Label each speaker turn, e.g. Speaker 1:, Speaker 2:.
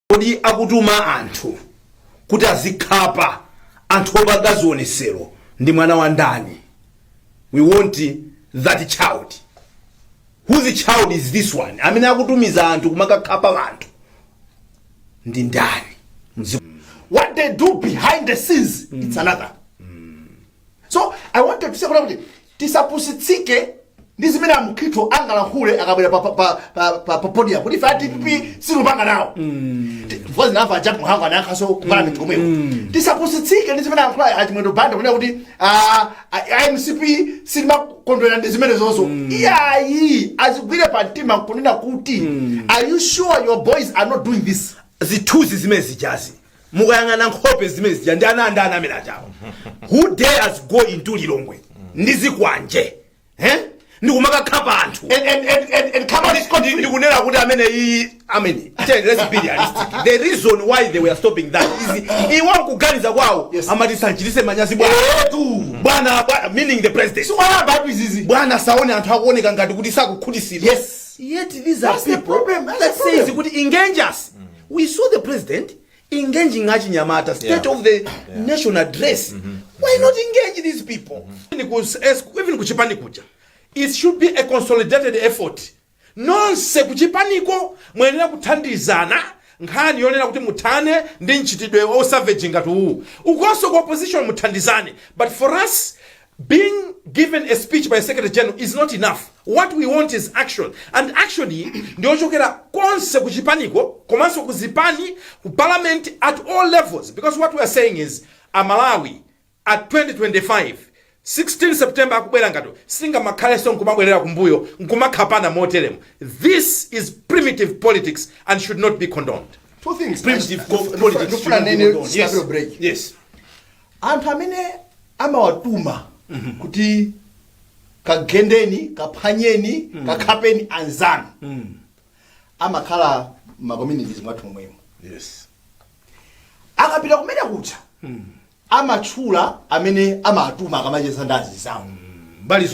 Speaker 1: kodi akutuma anthu kuti azikakhapa anthu opanga zionesero ndi mwana wa ndani we want that child whose child is this one amene akutumiza anthu kumakakhapa anthu ndi ndani Mzi- what they
Speaker 2: do behind the scenes it's another so i want to say kuti tisapusitsike ndi zimene a Mkhito angalankhule akabwere pa- pa- pa- pa- pa- pa podium kuti ife adpp sitikupanga nawo voice ina ya a Jappie Mhango anayankhanso kupanga mitu komweko tisapusitsike ndi zimene alankhula a Chimwendo banda kunena kuti ah, ah, mcp siimakondwera ndi zimene izonso iyayi azigwire pa mtima nkunena kuti are you sure your boys are not doing this zithuzi zimene
Speaker 1: zijazi mukayang'ana nkhope zimene zija ndi ana andani amene ajawa who dares go into lilongwe ndi zikwanje eh? ndikumakakhapa anthu And, and, and, and,
Speaker 2: and come on, it's Ndi- ndikunena kuti amene
Speaker 1: iyi amene Ten, let's be realistic the reason why they were stopping that is iwo kuganiza kwawo Yes. amati tisamchititse manyazi bwana bwana bwana- meaning the president Siwayamba awa izizi.
Speaker 2: bwana saone anthu
Speaker 1: akuoneka ngati kuti sakukhutitsidwa Yes. yet
Speaker 2: these are That's the people
Speaker 1: problem, that's that the problem.
Speaker 2: says kuti
Speaker 1: engage us we saw the president engaging achinyamata state Yeah. of the Yeah. nation address why not engage these people Even ku S-
Speaker 3: even kuchipani kuja it should be a consolidated effort nonse kuchipaniko muyenera kuthandizana nkhani yonena kuti muthane ndi mchitidwe wa savage ngati uwu ukonso ku opposition muthandizane but for us Being given a speech by secretary general is not enough, what we want is action and action iyi ndiyochokera konse ku chipaniko komanso ku zipani ku parliament at all levels because what we are saying is a Malawi at 2025 16 September akubwerayu sitingamakhalenso nkumabwerera kumbuyo nkumakhapana moteremu this is primitive politics and should not be condoned Two things. Primitive
Speaker 2: co-
Speaker 1: politics. Ndikufuna should not be nene condoned. Yes. Tisanapite ku break. Yes.
Speaker 2: Anthu amene amawatuma kuti kagendeni, kaphwanyeni, kakhapeni anzanu amakhala m'ma communities mwathu momwemo. Yes. Akapita kumeneko kuja amatchula amene amawatuma akamacheza ndi anzawo. Mbali zonse.